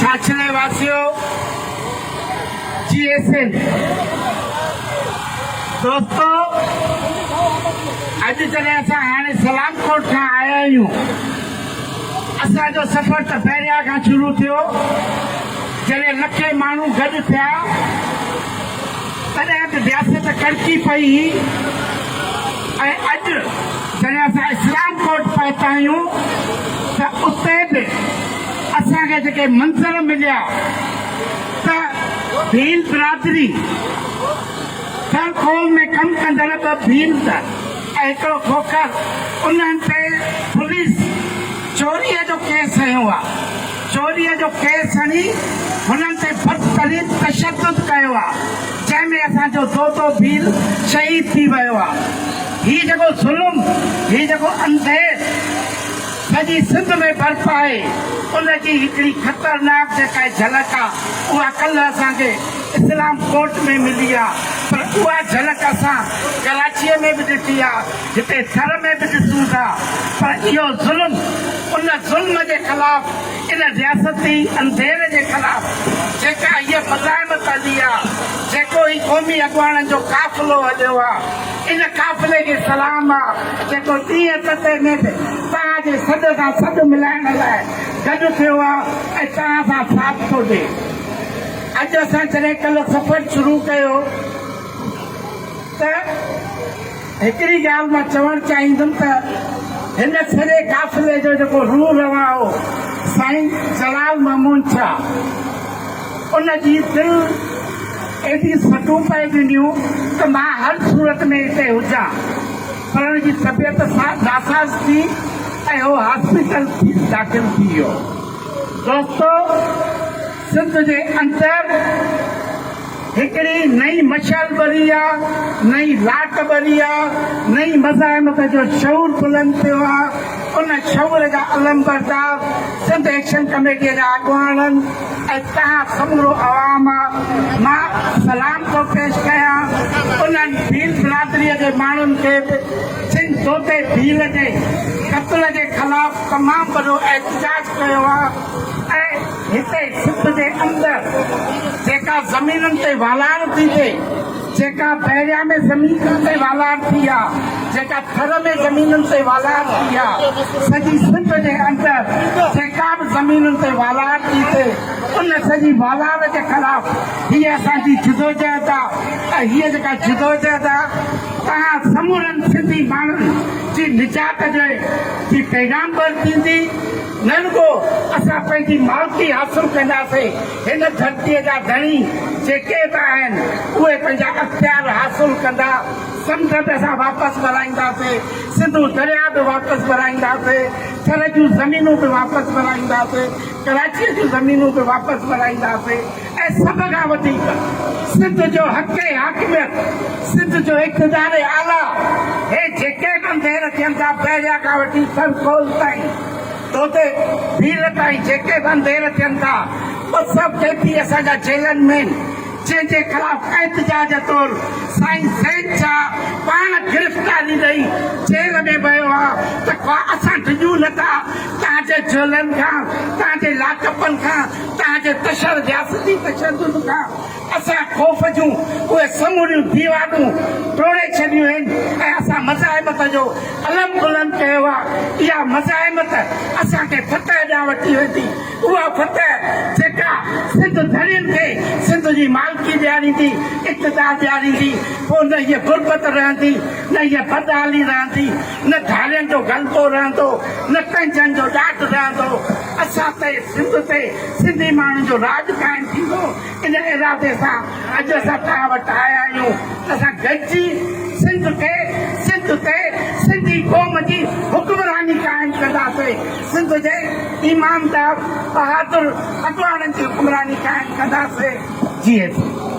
ڇاڇلي واسيو جي اي سين دوستو اڄ جڏهن اسان هاڻي سلام ڪوٽ کان آيا آهيون اسان جو سفر ته بحريا کان شروع ٿيو جڏهن لکين ماڻهو گڏ ٿيا تڏهن به رياست ڪڙڪي پئي هئي ۽ اڄ جڏهن اسان اسلام ڪوٽ پهتا آهيون ته اتي به اسان کي جيڪي منظر مليا ته ڀيل برادري ٿر کول ۾ ڪم ڪندڙ ٻه ڀيل ته ۽ هڪڙو کوکر انهن تي پوليس چوريء جو ڪيس هنيو آهي. چوريء جو ڪيس هڻي هنن تي بدترين تشدد ڪيو آ جنهن ۾ اسان جو دودو ڀيل شهيد ٿي ويو آ هي جيڪو ظلم هي جيڪو انديش سڄي سنڌ ۾ برپا آهي ان جي هڪڙي خطرناڪ جيڪا جهلڪ آ اها ڪلهه اسان کي اسلام ڪوٽ ۾ ملي آ پر اها جهلڪ اسان ڪراچيء ۾ به ڏٺي آ جتي سر ۾ به ڏسون ٿا پر اهو ظلم ان ظلم جي خلاف ان رياستي انڌير جي خلاف جيڪا هيء مزاحمت هلي آ جيڪو هي قومي اڳواڻن جو قافلو هليو آ ان قافلي کي سلام آ جيڪو ڏينهن تتي ۾ به توهان جي سڏ سان سڏ ملائڻ لاء گڏ ٿيو آ ۽ توهان سان ساٿ ٿو ڏي اڄ اسان جڏهن ڪلهه سفر شروع ڪيو ته هڪڙي ڳالهه مان چوڻ چاهيندم ته هن سڄي قافلي جو جيڪو روح روان هو سائين جلال مامون شاهه ان جي دل ايڏي سٽون پئي ڏنيون ته مان هر صورت ۾ اتي هجان پر ان جي طبيعت ناساز ٿي ۽ هو هاسپيٽل داخل ٿي ويو دوستو سنڌ جي اندر هڪڙي نئين مشعل ٻري آ، نئين لاٽ ٻري آ، نئين مزاحمت جو شعور بلند ٿيو آ، ان شعور جا علمبردار سنڌ ايڪشن ڪميٽيء جا اڳواڻن ۽ توهان سمورو عوام آ، مان سلام ٿو پيش ڪيان انهن ڀيل برادريء جي ماڻهن کي به جن دودي ڀيل جي قتل جي خلاف تمام وڏو احتجاج ڪيو آ ۽ هتي سنڌ جي اندر جيڪا زمينن تي والار ٿي ٿئي، جيڪا بحريا ۾ زمينن تي والار ٿي يا جيڪا ٿر ۾ زمينن تي والار ٿي يا سڄي سنڌ جي اندر جيڪا به زمينن تي والار ٿي ٿئي ان سڄي والار جي خلاف هيء اسان جي جدوجهد آ ۽ هيء جيڪا جدوجهد آ توهان سمورن سنڌي ماڻهن جي نجات جي پيغام بر ٿيندي. نه رڳو اسان پنهنجي مالڪي حاصل ڪنداسين، هن ڌرتيء جا ڌڻي جيڪي به آهن، اهي پنهنجا اختيار حاصل ڪندا، سمنڊ به اسان واپس ورائينداسين، سنڌو درياهه به واپس ورائينداسين، ٿر جون زمينون به واپس ورائينداسين، ڪراچيء جون زمينون به واپس ورائينداسين. ۽ سڀ کان وڌيڪ سنڌ جو حق حاڪميت، سنڌ جو اقتدار اعليٰ، هي جيڪي به انڌير ٿين ٿا، بحريا کان وٺي سر ڪول تائين، دودي ڀيل تائين جيڪي به انڌير ٿين ٿا، اهي سڀ ڪي پي اسان جا جيلن مين جنهن جي خلاف احتجاج طور سائين زيد شاهه پاڻ گرفتاري ڏئي جيل ۾ ويو آ ته ڪا اسان ڊڄون نه ٿا، تهان جي جيلن کان، تهان جي لاڪ اپن کان، اتان جي تشر رياستي تشدد کان اسان خوف جون اهي سموريون ديوارون ٽوڙي ڇڏيون آهن ۽ اسان مزاحمت جو علم بلند ڪيو آهي. اها مزاحمت اسان کي فتح ڏانهن وٺي ويندي. اها فتح جيڪا سنڌ ڌڻين کي سنڌ جي مالڪي ڏياريندي، اقتدار ڏياريندي، پوء نه هيء غربت رهندي، نه هيء بدحالي رهندي، نه ڌارين جو غلبو رهندو، نه تنجن جو ڏاڍ رهندو. اسان تي، سنڌ تي، سنڌي ماڻهن جو راڄ قائم ٿيندو، ان ارادي سان اڄ اسان توهان وٽ آيا آهيون ته اسان گڏجي سنڌ کي، سنڌ تي، سنڌي قوم جي حڪمراني قائم ڪنداسين، سنڌ جي ايماندار، بهادر اڳواڻن جي حڪمراني قائم ڪنداسين. جيئي سنڌ!